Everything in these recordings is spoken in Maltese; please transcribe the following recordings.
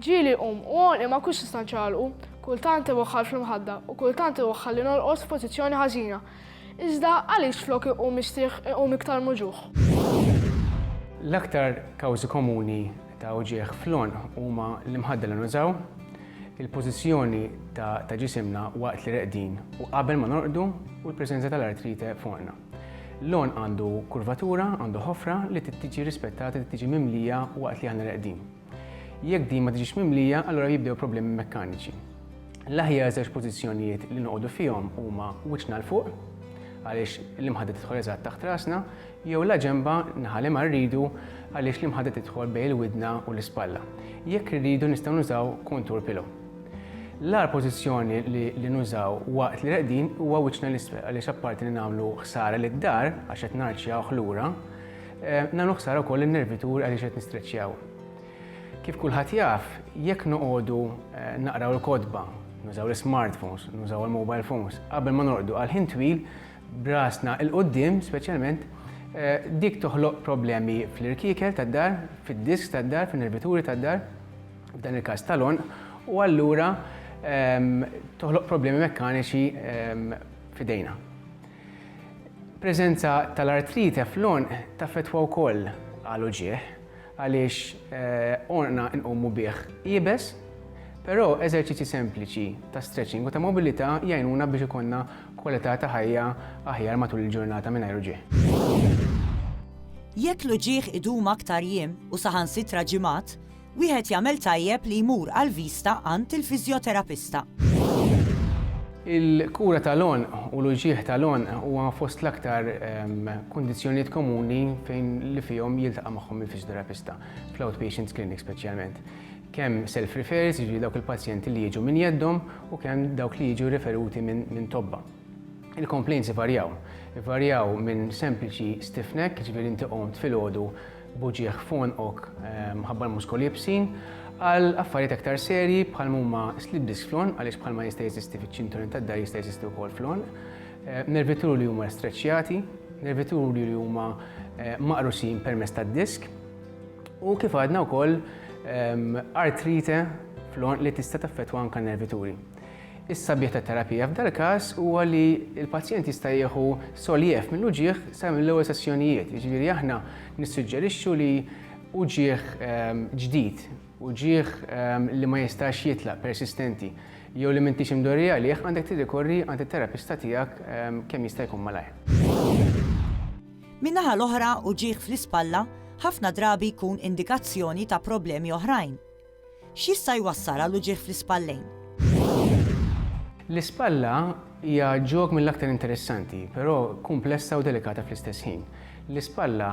Ġieli qum u għonqi ma nkunx nista' nċaqalqu, kultant iwaħħal fl-imħadda u kultant iwaħħalli norqod f'pożizzjoni ħażina. Iżda għaliex flok iqum mistrieħ iqum iktar muġugħ? L-aktar kawżi komuni ta' uġigħ fl-għonq huma l-imħadda li nużaw, il-pożizzjoni ta' ġisimna waqt li reqdin u qabel ma norqdu u l-preżenza tal-artrite f'għonqna. L-għonq għandu kurvatura, għandu ħofra li trid tiġi rispettata li tiġi mimlija waqt li aħna reqdin. Jekk din ma tiġix mimlija, allura jibdew problemi mekkaniċi. L-aħjar żewġ pożizzjonijiet li noqogħdu fihom huma wiċċna l fuq, għaliex l-imħadda tidħol eżatt taħt rasna, jew la ġemba naħali ma rridu għaliex l-imħadda tidħol bejn il-widna u l-ispalla. Jekk rridu nistgħu nużaw kontur pillow. L-agħar pożizzjoni li nużaw waqt li reqdin huwa wiċċna l-isfel għaliex apparti li nagħmlu ħsara lid-dar għax qed narċjawh lura, eh, nagħmlu ħsara wkoll in-nervitur għaliex qed nistreċċjaw. Kif kulħadd jaf, jekk noqogħdu eh, naqraw il-kotba, nużaw l-smartphones, nużaw il-mobile phones, qabel ma norqdu għal ħin twil, brasna il-qoddim speċjalment Eh, dik toħloq problemi fl-irkiekel tad-dar, fid-disk tad-dar, fin-nervituri tad-dar, f'dan il-każ tal-għonq, u allura toħloq problemi mekkaniċi f'idejna. Preżenza tal-artrite fl-għonq taffettwa wkoll għal uġigħ għaliex għonqna nqumu bih iebes, però eżerċizzji sempliċi ta' stretching u ta' mobilità jgħinuna biex ikollna kwalità ta' ħajja aħjar matul il-ġurnata mingħajr uġigħ. Jekk l-uġigħ idum aktar jiem u saħansitra ġimgħat, Wieħed jagħmel tajjeb li jmur għall-vista għand il-fiżjoterapista. Il-kura tal-għonq u l-uġigħ tal-għonq huwa fost l-aktar kundizzjonijiet komuni fejn li fihom jiltaqa' magħhom il-fiżjoterapista, fl-outpatient clinic speċjalment. Kemm self-referrers, jiġifieri dawk il-pazjenti li jiġu minn jeddhom u kemm dawk li jiġu riferuti minn tobba. Il-complaints ivarjaw. Ivarjaw minn sempliċi stiff neck, jiġifieri inti qomt filgħodu b'uġigħ f'għonqok mħabbar muskoli ibsin, għal affarijiet aktar serji bħal mhuma slip disc fl-għonq għaliex bħalma jista' jeżisti fiċ-ċinturin tad-dahar jista' jeżisti wkoll fl-għonq, nervituri li huma streċċjati, nervituri li huma maqrusin permezz tad-disk u kif għadna wkoll artrite fl-għonq li tista' taffettwa anke n-nervituri. Is-sabiħ tat-terapija f'dal-każ huwa li l-pazjent jista' jieħu soljev mill-uġigħ sa mill-ewwel sessjonijiet. Jiġifieri aħna nissuġġerixxu li uġigħ ġdid, uġigħ li ma jistax jitlaq, persistenti, jew li m'intix imdorri għalih għandek tirrikorri għand it-terapista tiegħek kemm jista' jkun malajr. Min-naħa l-oħra, uġigħ fl-ispalla ħafna drabi jkun indikazzjoni ta' problemi oħrajn. X'jista' jwassal għal uġigħ fl-ispallejn? L-ispalla hija ġog mill-aktar interessanti, però kumplessa u delikata fl-istess ħin. L-ispalla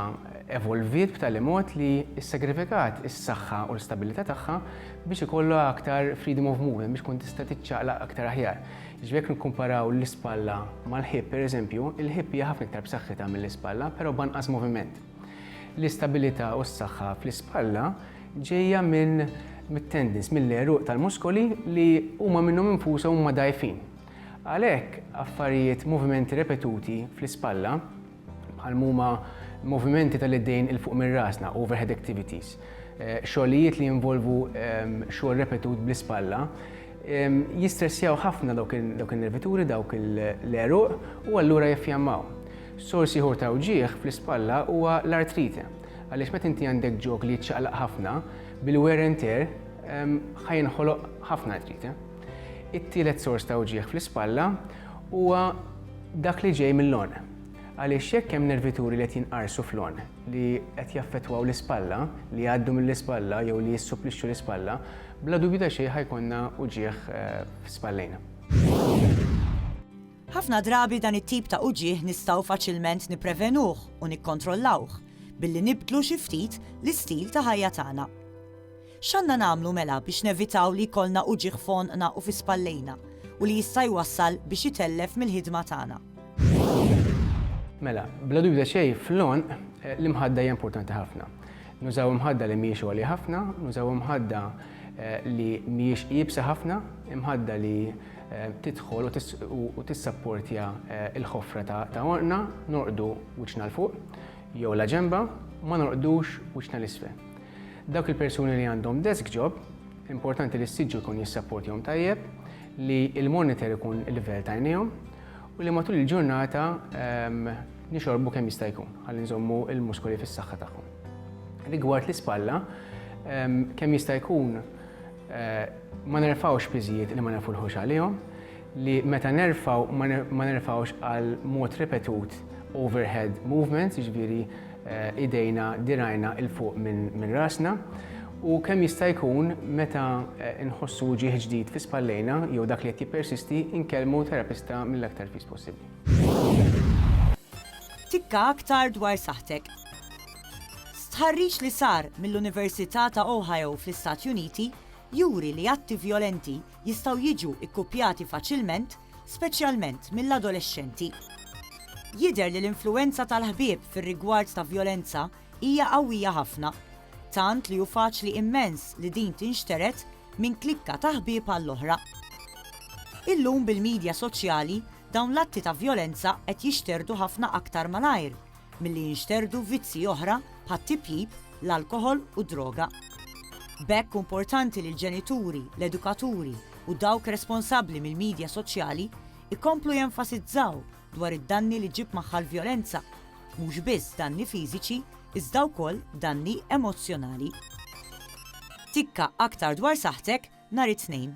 evolviet b'tali mod li ssagrifikat is-saħħa u l-stabbilità tagħha biex ikollha aktar freedom of movement, biex tkun tista' tiċċaqlaq aktar aħjar. Jiġifieri jekk nikkumparaw l-ispalla mal-hip, pereżempju, il-hip hija ħafna iktar b'saħħitha mill-ispalla, però b'anqas moviment. L-istabilità u s-saħħa fl-ispalla ġejja minn mit-tendons, mill-għeruq tal-muskoli li huma minnhom infushom huma dgħajfin. Għalhekk affarijiet, movimenti repetuti fl-ispalla, bħal huma movimenti tal-idejn 'il fuq minn rasna, overhead activities, xogħlijiet li jinvolvu xogħol repetut bl-ispalla, Jistressjaw ħafna dawk in-nervituri, dawk l-għeruq, u allura jiffjammaw. Sors ieħor ta' wġigħ fl-ispalla huwa l-artrite, għaliex meta inti għandek ġog li jiċċaqlaq ħafna, bil-wear and tear ħa jinħoloq ħafna artrite. It-tielet sors ta' wġigħ fl-ispalla huwa dak li ġej mill-għonq. Għaliex jekk hemm nervituri li qed jinqarsu fl-għonq li qed jaffettwaw l-ispalla, li jgħaddu mill-ispalla jew li jissuplixxu l-ispalla, Bla dubju ta' xejn ħa jkollna uġigħ f'spallejna. Ħafna drabi dan it-tip ta' uġigħ nistgħu faċilment nipprevenuh u nikkontrollawh billi nibdlu xi ftit l-istil ta' ħajja tagħna. X'għandna nagħmlu mela biex nevitaw li jkollna uġigħ f'għonqna u fi spallejna u li jista' jwassal biex itellef mill-ħidma tagħna? Mela, bla dubju ta' xejn fl-għonq l-imħadda hija importanti ħafna. Nużaw imħadda li mhijiex għolja ħafna, nużaw imħadda li mhijiex iebsa ħafna, imħadda li tidħol u tissapportja il-ħofra ta' orqna, norqdu wiċċna l fuq jew la ġemba, ma norqdux wiċċna l-isfel. Dawk il-persuni li għandhom desk job, importanti li s-siġġu jkun jissapportjom tajjeb, li il-monitor ikun il-livell ta' jnejhom, u li matul il-ġurnata nixorbu kemm jista' jkun ħalli nżommu l-muskoli fis-saħħa tagħhom. Rigward l-ispalla, kemm jista' jkun ma nerfgħux piżijiet li ma nafulħux għalihom, li meta nerfgħu ma nerfgħux għal mod ripetut overhead movements, jiġifieri idejna, dirgħajna 'il fuq minn rasna, u kemm jista' jkun meta nħossu wġigħ ġdid fi spallejna jew dak li qed jippersisti nkellmu terapista mill-aktar fis possibbli. Tikka aktar dwar saħħtek. Stħarriġ li sar mill-Università ta' Ohio fl-Istati Uniti juri li atti vjolenti jistgħu jiġu kkuppjati faċilment speċjalment mill-adolexxenti. Jidher li l-influwenza tal-ħbieb fir-rigward ta' vjolenza hija qawwija ħafna, tant li hu faċli immens li din tinxtered minn klikka ta' ħbieb għall-oħra. Illum bil-midja soċjali dawn l-atti ta' vjolenza qed jixterdu ħafna aktar malajr milli jinxterdu vizzji oħra bħat-tipjip, l-alkoħol u d-droga. B'hekk hu importanti li l-ġenituri, l-edukaturi u dawk responsabbli mill-midja soċjali jkomplu jenfasizzaw dwar id-danni li ġġib magħha l-vjolenza, mhux biss danni fiżiċi iżda wkoll danni emozzjonali. Tikka aktar dwar saħħtek nhar it-Tnejn.